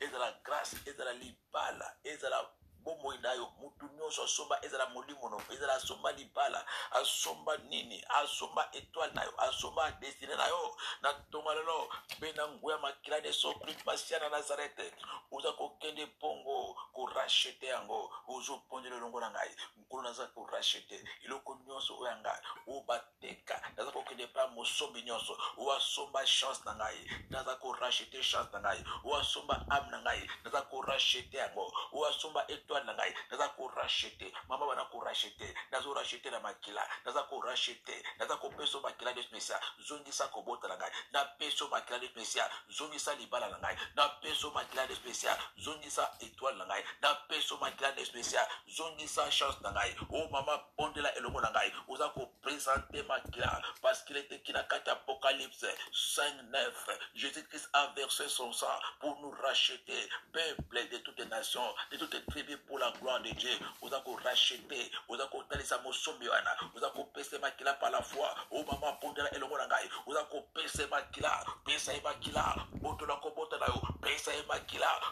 ezala grace ezala libala ezala bomoi na yo motu nyonso asomba ezala molimo no ezala asomba libala asomba nini asomba etoile na yo asomba destine na yo na ntonga lelo mpe na nguya makila na yesu kristo masiya na nazarete oza kokende mpongo korachete yango ozoponde lolongo na ngai nkolo naza korachete eloko nyonso oyo ya ngai oyo bateka naza kokende epai mosombi nyonso oyo asomba chance na ngai naza korachete chance na ngai oyo asomba ame na ngai naza korachete yango oyo asomba etoile na ngai naza korachete mama bana korachete nazo rachete na makila naza korachete naza kopesa makila de mesia zongisa kobota na ngai napesa makila de mesia zongisa libala na ngai napesa makila de mesia zongisa etoile na ngai napesa makila de mesia zongisa chance na ngai o oh, mama bondela elongo na ngai oza kopresente makila parcekil eteki na kati apocalypse 5 9 jésus christ a versé son sang pour nous racheter peuple de toutes les nations de toutes les tribus pour la gloire de dieu oza korachete oza kotalisa mosombi wana oza kopesa makila par la foi o oh, mama bondela elongo na ngai oza kopesa makila pesa ye makila botola kobota na yo pesa ye makila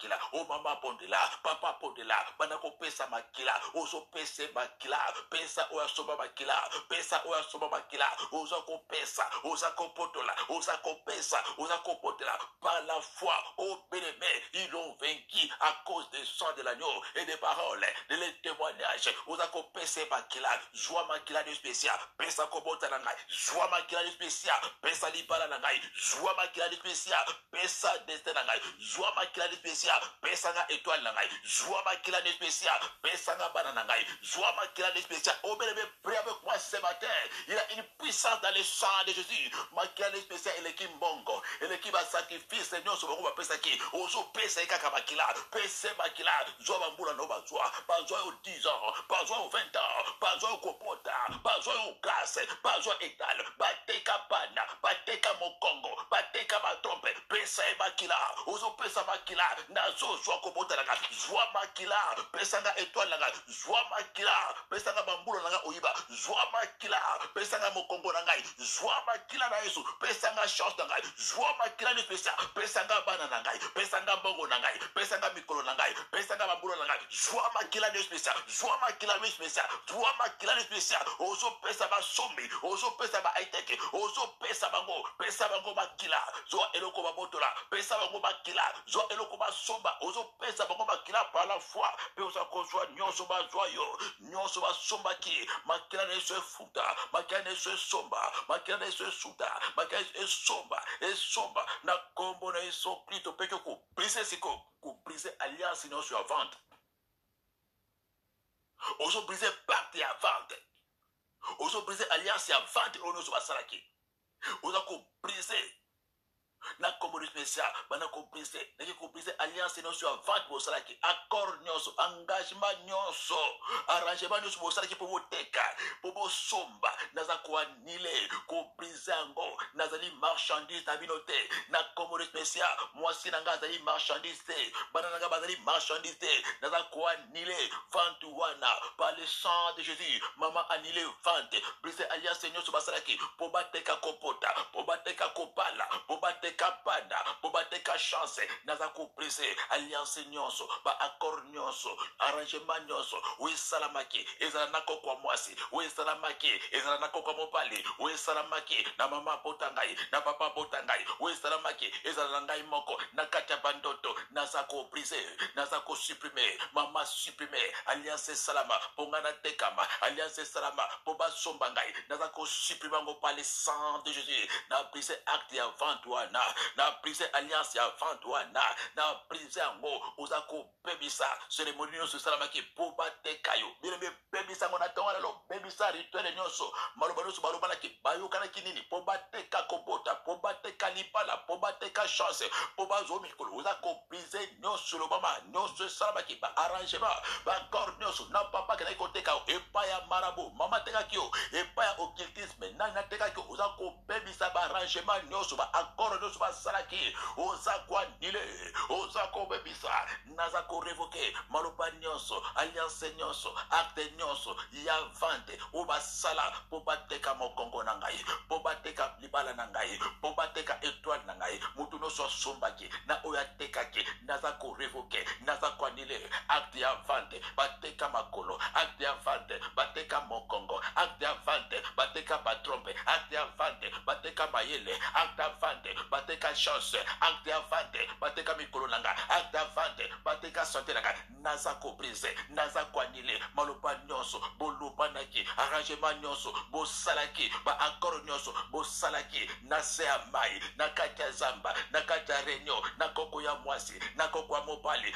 makila o mama abondela papa abondela banda kopesa makila ozopesa makila pesa oyo asomba makila pesa oyo asomba makila oza kopesa oza kopotola oza kopesa oza kopotela par la foi au oh, bénémé ils ont vaincu à cause des sang de l'agneau et des paroles de les témoignages oza kopesa makila zwa makila de spécial pesa kobota na ngai zwa makila de spécial pesa libala na ngai zwa makila de spécial pesa destin na ngai zwa makila nde pesi ya pesa nga etoile na ngai zwa makila nde pesi ya pesa nga bana na ngai zwa makila nde pesi ya obele be prie avec moi ce matin il a une puissance dans le sang de Jésus makila nde pesi ya eleki mbongo eleki ba sacrifice nyonso bango bapesaki ozo pesa ye kaka makila pese makila zwa bambula no bazwa bazwa yo 10 ans bazwa yo 20 ans bazwa yo kopota bazwa yo classe bazwa etale bateka bana bateka mokongo bateka batompe pesa ye makila ozopesa makila nazozwa kobota nanga zwa makila pesa nga etwale nanga zwa makila pesa nga bambula nanga oyiba zwa makila pesa nga mokongo na ngai zwa makila na yesu pesa nga chance na ngai zwa makila nipesa pesa nga bana na ngai pesa nga mbongo na ngai pesa nga likolo na ngai pesa ngai bambula na ngai zwa makila nde spesial zwa makila nde spesial zwa makila nde spesial ozopesa basombi ozopesa baiteke ozopesa bango pesa bango makila zwa eloko babotola pesa bango makila zwa eloko basomba ozopesa bango makila par la foi mpe oza kozwa nyonso bazwa yo nyonso basombaki makila na yesu efuta makila na yesu esomba makila na yesu esuta makila na yesu esomba esomba na nkombo na yesu kristo mpe tokuba Brise siko ko brise alliance nionso ya vente. Ozo brise pacte ya vente. Ozo brise alliance ya vente oyo nionso basalaki. Oza ko brise na kombo de special bana ko brise naki ko brise alliance nionso ya vente bosalaki accord nionso engagement nionso arrangement nionso bosalaki mpo boteka mpo bosomba naza koa nile kobrize yango nazali marchandise na bino te na kombo de mesia mwasi na ngai azali marchandise te bana na ngai bazali marchandise te naza koanile vante wana par le sang de jésus mama anile vante brise alliance nyonso basalaki mpo bateka kopota mpo bateka kobala mpo bateka bana mpo bateka chance naza kobrise alliance nyonso baaccord nyonso arrangement nyonso oyo esalamaki ezala na koko ya mwasi oyo esalamaki ezala na koko ya mobali oyo esalamaki na mama abota ngai na papa abota ngai oyo esalamaki ezala na ngai moko na kati ya bandoto naza kobrise naza kosuprime mama suprime alliance esalama mpo ngai natekama alliance esalama mpo basomba ngai naza kosuprime yango pale sang de jésus na brise acte ya vente wana na brise alliance ya vente wana na brise organise yango oza kobebisa seremoni nyonso esalamaki mpo bateka yo bino bebebisa yango na ntongo lelo bebisa rituele nyonso maloba nyonso balobanaki bayokanaki nini mpo bateka kobota mpo bateka libala mpo bateka chance mpo bazwa mikolo oza kobrise nyonso elobama nyonso esalamaki baarrangement baaccord nyonso na papa kendaki koteka yo epai ya marabo mama atekaki yo epai ya occultisme nani natekaki yo oza kobebisa baarrangement nyonso baaccord nyonso basalaki oza koanile te oza kobebisa naza korevoke maloba nyonso alliance nyonso acte nyonso ya vente oyo basala mpo bateka mokongo na ngai mpo bateka libala na ngai mpo bateka etoile na ngai moto nyonso asombaki na oyo atekaki naza korevoke naza koanile acte ya vente bateka makolo acte ya vente bateka mokongo acte ya vente bateka batrompe acte ya vente bateka mayele acte ya vente bateka chance acte ya vente bateka mikolo na nga acte ya vente bateka sante na nga naza kobrise naza koanile maloba nyonso bolobanaki arrangement nyonso bosalaki baakoro nyonso bosalaki na se ya mai na kati ya zamba na kati ya reunion na koko ya mwasi na koko ya mobali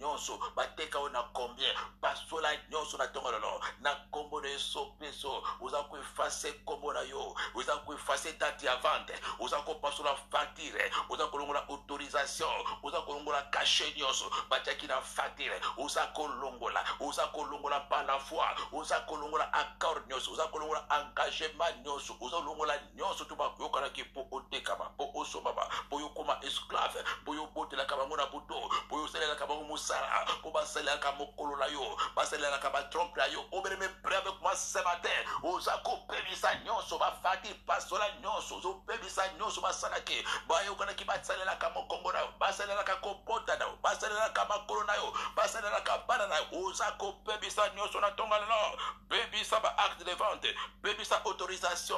nyonso bateka yo na combien pasola nyonso na ntongo lelo na nkombo na yesu kristo oza koefase nkombo na yo oza koefase date ya vente oza kopasola facture oza kolongola autorisation oza kolongola kashe nyonso batiaki na facture oza kolongola oza kolongola par la foi oza kolongola accord nyonso oza kolongola engagement nyonso oza kolongola nyonso to bayokanaki mpo otekama mpo osombama mpo yokoma esclave mpo yobotelaka bango na buto mpo yosalelaka bango mosala mpo basalelaka mokolo na yo basalelaka batrompe na yo obeleme pre avec moi ce matin oza kobebisa nyonso bafati pasola nyonso ozobebisa nyonso basalaki bayokanaki basalelaka mokongo na yo basalelaka kobota na yo basalelaka makolo na yo basalelaka bana na yo oza kobebisa nyonso na ntonga lelo bebisa ba acte de vente bebisa autorisation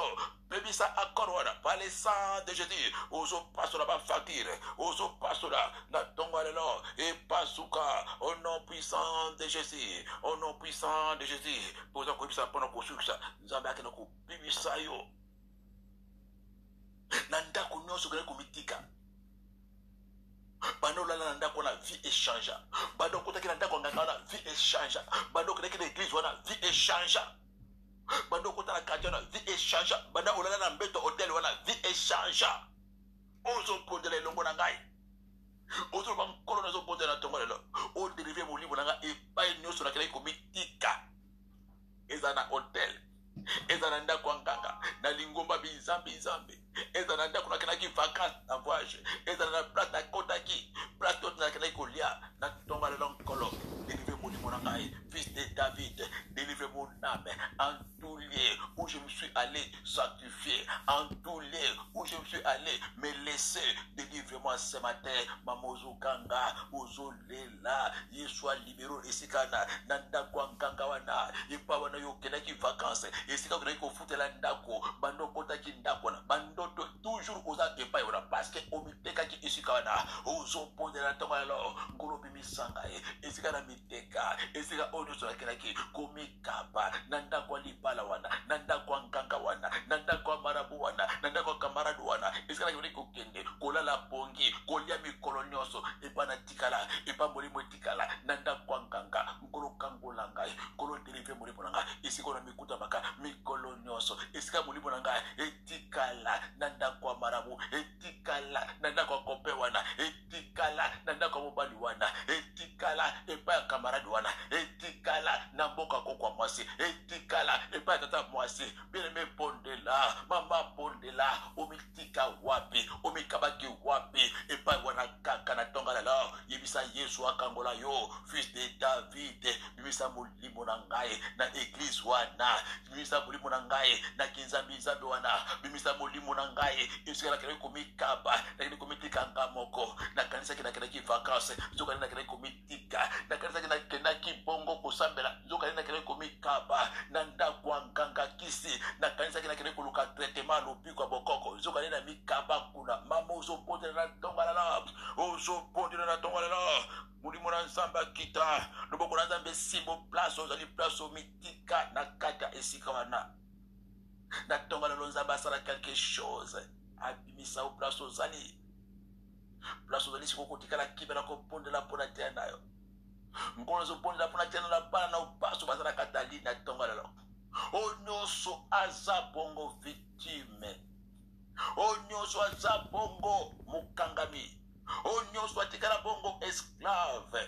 bebisa accord wana par le sang de jésus ozopasola bafacture ozopasola na ntongo ya lelo epasuka au nom puissant de jésus au nom puissant de jésus mpo oza koyebisa mpona kosukisa nzambe akende kobimisa yo na ndako nyonso okende komitika banda olala na ndako wana vie echangea banda okotaki na ndako nganga wana vie echangea banda okendaki na eglise wana vie echangea banda okota na quartier wana vie echangea banda olala na mbeto hotel wana vie echangea ozobondela elongo na ngai ozoloba nkolo nazobondela na ntongo lelo oderive molimo na ngai epai nyonso nakelaki komitika ezala na hotel ezala na ndako ya nganga na lingomba binzambi nzambi ezala na ndako nakendaki vacance na voyage ezala na place nakotaki place oyo nakendaki kolia na tonga lelo nkolo delivre molimo na ngai fils de david delivre mon âme en tout lieu où je me suis allé sanctifier en tout lieu où je me suis allé me laisser delivre moi ce matin mamozokanga ozolela na yesu alibero esika na na ndako ya nkanga wana epa wana yo okendaki vacanse esika okendaki kofutela ndako bando okotaki ndako wana bando toujours oza epai wana parceke omitekaki esika wana ozobondela ntongo yalo nkolo obimisanga ye esika na miteka esika oyo nyonso nakelaki komikaba na ndako ya libala wana na ndako ya nkanga wana na ndako ya marabu wana na ndako ya kamarade wana esika nakendaki kokende kolala pongi kolia mikolo nyonso epa na etikala epa molimo etikala na ndako ya nganga nkolo kangola ngai nkolo delivre molimo na ngai esika na mikutamaka mikolo nyonso esika molimo na ngai etikala na ndako ya marabu etikala na ndako ya kope wana etikala na ndako ya mobali wana etikala epai ya kamarade wana etikala na mboka kokwa mwasi etikala epai ya tata mwasi Bien-aimé bondela, mama bondela, omitika wapi, omikabaki wapi, epai wana kaka na tonga lelo, yebisa Yesu akangola yo, fils de David, bimisa molimo na ngai na eglise wana, bimisa molimo na ngai na kinzambi nzambe wana, bimisa molimo na ngai esika nakendaki komikaba, nakendaki komitika nga moko, nakanisaki nakendaki vacances, nzokande nakendaki komitika tika nakanisaki nakendaki bongo kosambela nzokani nakendaki komikaba na ndako ya nkanga kisi nakanisaki nakendaki koluka tretema ya lobiko ya bokoko nzokani na mikaba kuna mama ozobondela na tongalala ozobondela na tongalala molimo na nzambe akita loboko na nzambe esimbo place ozali place omitika na kati ya esika wana na tongalelo nzambe asala quelque chose abimisa o place ozali place ozali sikoyo kotikala kimia na kobondela mpo na tene na yo nkolo ezobondela mpo na tene na bana na baso baza na katali na ntongo lelo oyo nyonso aza bongo victime oyo nyonso aza bongo mokangami oyo nyonso atikala bongo esclave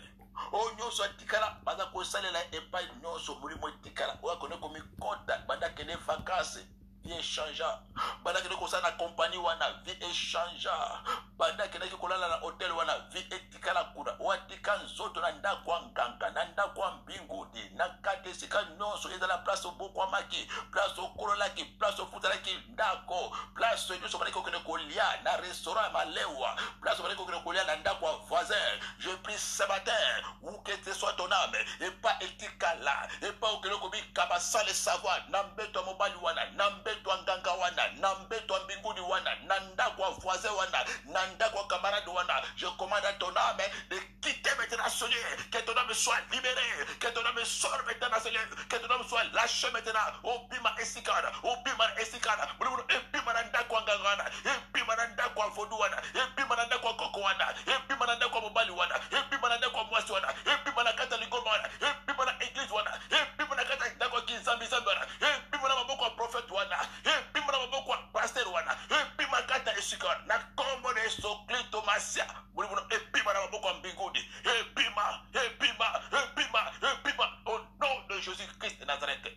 oyo nyonso atikala baza kosalela epai nyonso molimo etikala oyo akoni komikota banda kende vakanse vie echangea banda akendaki kosala na kompani wana vie echangea banda akendaki kolala na hotel wana vie etikala kuna watika nzoto na ndako ya nganga na ndako ya mbingudi na kati esika nyonso ezala place obokwamaki place okololaki place ofutalaki ndako place nyonso obandaki kokende kolia na restaurant ya malewa place obandaki kokende kolia na ndako ya voisin je pris ce matin ou que ce soit ton âme epa etikala epa okele kobika basale savoir na mbeto ya mobali wana na mbeto ya nganga wana na mbeto ya mbinguni wana na ndako ya voisin wana na ndako ya camarade wana je commande à ton âme de quitter maintenant seigneur que ton âme soit libérée que ton âme sort maintenant seigneur que ton homme soit lâché maintenant. Obima esikana, obima esikana, bulubulu ebima na ndako ya nganga wana, ebima na ndako ya vodu wana, ebima na ndako ya koko wana, ebima na ndako ya mobali wana, ebima na ndako ya mwasi wana, ebima na kati ya lingomba wana, ebima na eglise wana, ebima na kati ya ndako ya kinzambi-zambi wana, ebima na maboko ya profete wana, ebima na maboko ya pasteur wana, ebima kati ya esika wana, na kombo na Yesu Klisto Masia, bulubulu ebima na maboko ya mbinguni. ebima ebima ebima ebima au nom de jésus christ de nazareth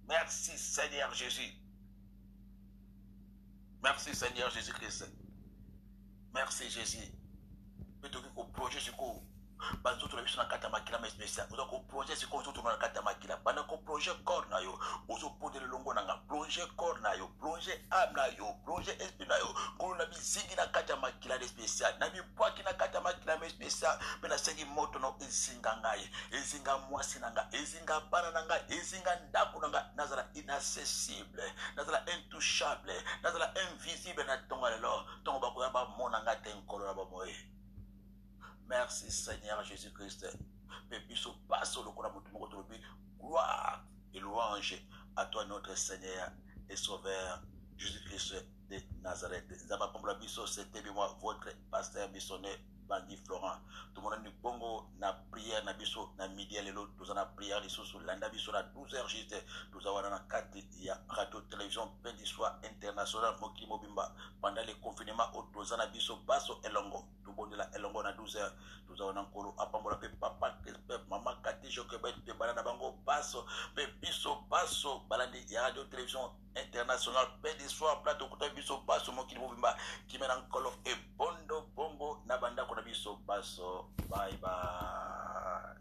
merci seigneur jésus merci seigneur jésus christ merci jésus mpe tokoki koproje sikoyo banzoto na biso na kati ya makila ma especial oza koproje sikoyo ozotuna na kati ya makila banda koproje corps na yo ozopondela elongo na nga plonge corps na yo plonge ame na yo plonge esprit na yo kolo na bizingi na kati ya makila na especial namibwaki na kati ya makila na especial mpe nasengi moto na ezinga ngai ezinga mwasi na ngai ezinga bana na ngai ezinga ndako na ngai nazala inaccessible nazala intouchable nazala invisible na ntongo lelo ntongo bakoya bamona ngai te nkolo na bomoi merci seigneur jésus christ mpe biso baso lokola moto moko tolobi gloire et louange à toi notre seigneur et sauveur jésus christ de Nazareth. Nzambe apambola biso c'était moi votre pasteur missionnaire Bangi Florent. Tomonani bongo na prière na biso na midi ya lelo toza na prière lisusu landa biso na 12h juste toza wana na kati ya radio télévision Pendiswa International mokili mobimba pendant le confinement oyo toza na biso baso elongo tobondela elongo na 12h toza wana nkolo apambola mpe papa mpe mama Kati Jochebed mpe bana na bango baso mpe biso baso balandi ya radio télévision international paix de soir plat okuta biso baso mokili mobimba kimia na nkolo ebondo bongo na bandako na biso baso bye bye